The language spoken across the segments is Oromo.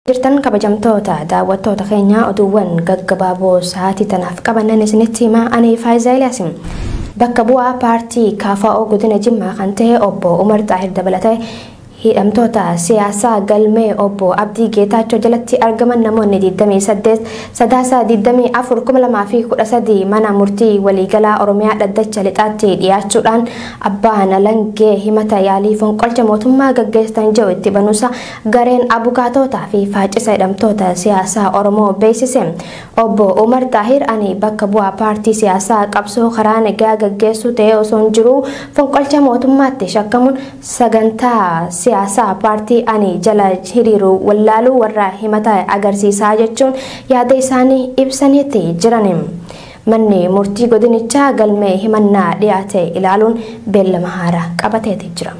jirtan kabajamtoota daawwattoota keenya oduuwwan gaggabaaboo sa'aatii tanaaf qabannan isinitti himaa ani faayiza eliyaasi bakka bu'aa paartii kaafaa'oo godina jimmaa kan ta'e obbo umar xaahir dabalatee hidhamtoota siyaasaa galmee obbo abdii geetaachoo jalatti argaman namoonni 28 sadaasa 24 2013 mana murtii waliigalaa oromiyaa dhaddacha lixaatti dhiyaachuudhaan abbaan alangee himata yaalii fonqolcha mootummaa gaggeessan jiru itti banuusa Gareen Abukaatootaa fi Faacisa Hidhamtoota Siyaasaa Oromoo beeksise. Obbo Umar Xaahir ani bakka bu'aa paartii siyaasaa qabsoo karaa nagaa gaggeessuu ta'ee osoon jiruu fonqolcha mootummaatti shakkamuun sagantaa siyaasaa paartii ani jala hiriiru wallaaluu warra himata agarsiisaa jechuun yaada isaanii ibsaniiti jiran. Manni murtii godinichaa galmee himannaa dhiyaate ilaaluun beellama haaraa qabateeti jira.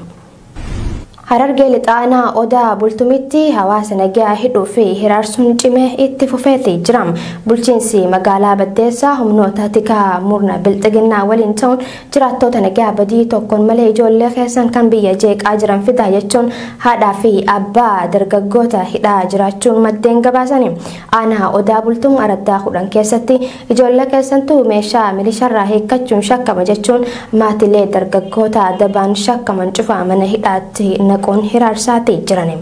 Harargee Lixaa Aanaa Odaa Bultumitti hawaasa nagaa hidhuu fi hiraarsuun cimee itti fufeeti jira. Bulchiinsi magaalaa Baddeessaa humnoota tikaa murna bilxiginnaa waliin ta'uun jiraattoota nagaa badii tokkoon malee ijoollee keessan kan biyya jeeqaa jiran fidaa jechuun haadhaa fi abbaa dargaggoota hidhaa jiraachuun maddeen gabaasani. Aanaa Odaa Bultum araddaa kudhan keessatti Ijoollee keessantu meeshaa milisharraa hiikkachuun shakkama jechuun maatilee dargaggoota dabaan shakkaman cufa mana hidhaatti naquun hiraarsaati jiran.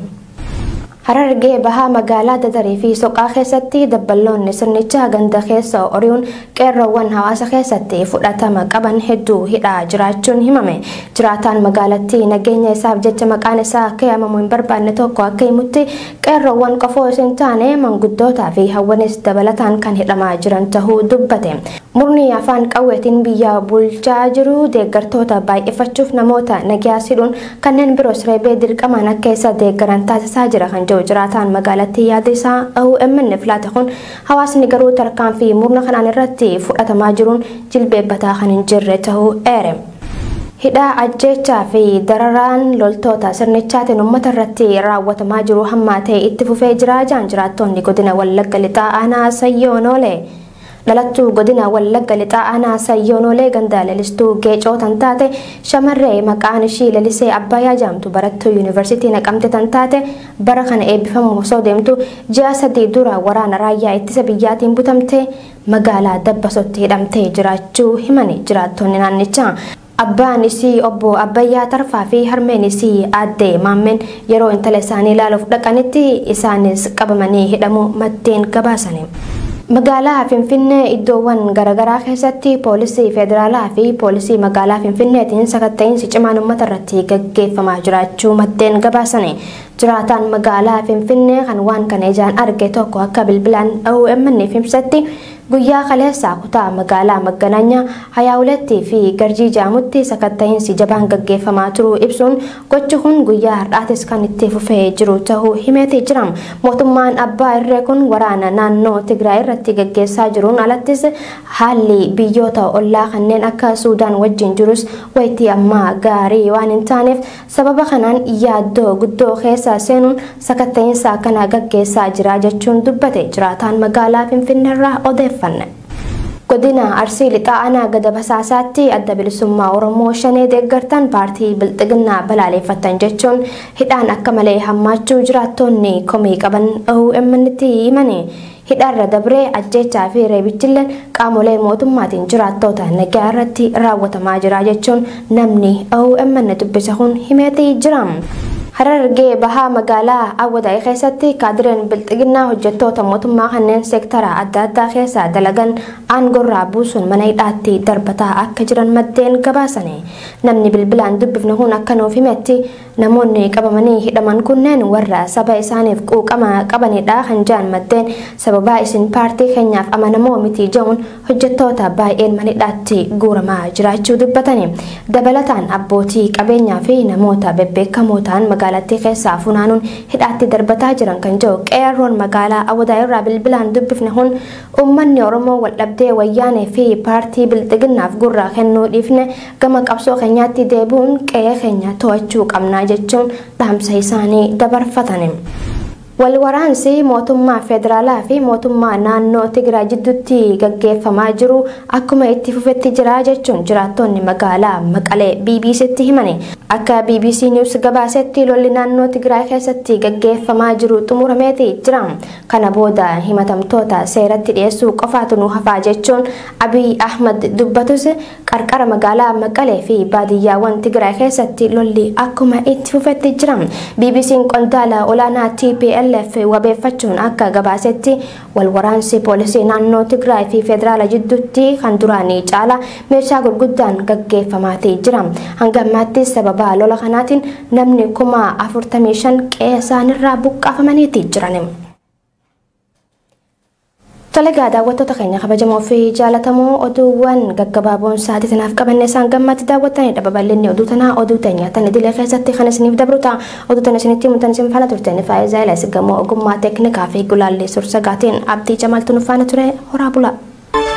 Harargee Bahaa magaalaa Dadarii fi Soqaa keessatti dabballoonni sirnichaa ganda keessa ori'uun qeerroowwan hawaasa keessatti fudhatama qaban hedduu hidhaa jiraachuun himame. Jiraataan magaalattii nageenya isaaf jecha maqaan isaa akka yaamamu hin barbaanne tokko akka himutti Qeerroowwan qofa osoo hin taane manguddootaa fi hawwanis dabalataan kan hidhamaa jiran tahuu dubbate. Murni afaan qawweetiin biyya bulchaa jiru deeggartoota baay'ifachuuf namoota nagyaas hidhuun kanneen biroos reebee dirqamaan akka isa deeggaran taasisaa jira kan jedhu jiraataan magaalattii yaada isaa OMN'f laate kun hawaasni garuu tarkaanfii murna kanaan irratti fudhatamaa jiruun jilbeebbataa kan hin jirre tahuu eere. Hidhaa, ajjeechaa fi dararaan loltoota sirnichaatiin uummata irratti raawwatamaa jiru hammaatee itti fufee jira jedhan jiraattoonni godina Wallagga Lixaa aanaa Sayyoo Noolee. Dhalattuu godina Wallagga Lixaa aanaa Sayyoo Noolee ganda Lelistuu Geecoo tan taate shamarree maqaan ishii Lelisee Abbaayaa jedhamtu barattuu Yuunivarsiitii Naqamte tan taate bara kana eebbifamuuf osoo deemtu ji'a sadii dura waraana raayyaa ittisa biyyaatiin butamtee magaalaa Dabbasotti hidhamtee jiraachuu himani jiraattonni naannichaa. Abbaan isii obbo Abbayyaa Tarfaa fi harmeen isii aadde Maammeen yeroo intala isaanii ilaaluuf dhaqanitti isaanis qabamanii hidhamuu maddeen gabaasani. Magaalaa Finfinnee iddoowwan garagaraa keessatti poolisii federaalaa fi poolisii magaalaa Finfinneetiin sakatta'iinsi cimaan uummatarratti gaggeeffamaa jiraachuu maddeen gabaasani. Jiraataan magaalaa Finfinnee kan waan kana ijaan arge tokko akka bilbilaan OMN'f ibsetti guyyaa kaleessaa kutaa magaalaa Magganaanyaa, Hayaawulettii fi Garjii jedhamutti sakatta'iinsi jabaan gaggeeffamaa turuu ibsuun gochi kun guyyaa har'aatis kan itti fufee jiru ta'uu himeeti jira. Mootummaan abbaa irree kun waraana naannoo Tigraay irratti gaggeessaa jiruun alattis haalli biyyoota ollaa kanneen akka Suudaan wajjin jirus wayitii ammaa gaarii waan hin taaneef Sababa kanaan yaaddoo guddoo keessa seenuun sakatta'insa akkanaa gaggeessaa jira jechuun dubbate jiraataan magaalaa Finfinneerraa odeeffanne. Godina Arsii Lixaa Aanaa Gada Basaasaatti Adda Bilisummaa Oromoo Shanee deeggartan paartii Bilxiginnaa balaaleeffattan jechuun hidhaan akka malee hammaachuu jiraattoonni komii qaban OMNtti himani. Hidhaarra dabree ajjeechaa fi reebichilleen qaamolee mootummaatiin jiraattoota nagaa irratti raawwatamaa jira jechuun namni OMN dubbise kun himeeti jira. Harargee bahaa magaalaa Awwadaay keessatti kaadireen bilxiginnaa hojjettoota mootummaa kanneen seektara adda addaa keessa dalagan aangorraa buusuun mana hidhaatti darbataa akka jiran maddeen gabaasani. Namni bilbilaan dubbifne kun akka nuuf himetti Namoonni qabamanii hidhaman kunneen warra saba isaaniif quuqama qabanidha kan jedhan maddeen, sababaa isin paartii keenyaaf amanamoo miti jedhuun hojjettoota baay'een mana hidhaatti guuramaa jiraachuu dubbatani. Dabalataan abbootii qabeenyaa fi namoota bebbeekamoo ta'an magaalattii keessaa funaanuun hidhaatti darbataa jiran kan jedhu Qeerroon magaalaa Awwadaay irraa bilbilaan dubbifne kun, uummanni Oromoo waldhabdee Wayyaanee fi paartii Bilxiginnaaf gurra kennuu dhiifne Gama qabsoo keenyaatti deebi'uun qe'ee keenya to'achuu qabna jechuun dhaamsa isaanii dabarfatani. Wal waraansi mootummaa federaalaa fi mootummaa naannoo Tigraay jidduutti gaggeeffamaa jiru akkuma itti fufetti jira jechuun jiraattonni magaalaa Maqalee BBC'tti himani. Akka BBC News gabaasetti lolli naannoo Tigraay keessatti gaggeeffamaa jiru xumurameeti jira. Kana booda himatamtoota seeratti dhiyeessuu qofaatu nu hafaa jechuun Abiy Ahmad dubbatus Qarqara magaalaa Maqalee fi baadiyyaawwan Tigraay keessatti lolli akkuma itti fufetti jira. BBC'n qondaala olaanaa TPLF wabeeffachuun akka gabaasetti wal waraansi poolisii naannoo Tigraay fi federaala jidduutti kan duraanii caala meeshaa gurguddaan gaggeeffamaatii jira. Hanga ammaatti sababa lola kanaatiin namni kuma 45 qe'ee isaanirraa buqqaafamaniiti jiran. Tole gaa daawwattoota keenya kabajamoo fi jaalatamoo oduuwwan gaggabaaboon sa'aatii tanaaf qabanne isaan gammaatti daawwattanidha babal'inni oduu tanaa oduu teenya tan idilee keessatti kan isiniif dabru ta'a oduu tan isinitti himutan isin faana turteen faayidaa ilaas gamoo ogummaa teeknikaa fi gulaallii sursagaatiin abdii jamaaltu nu faana ture horaa bulaa.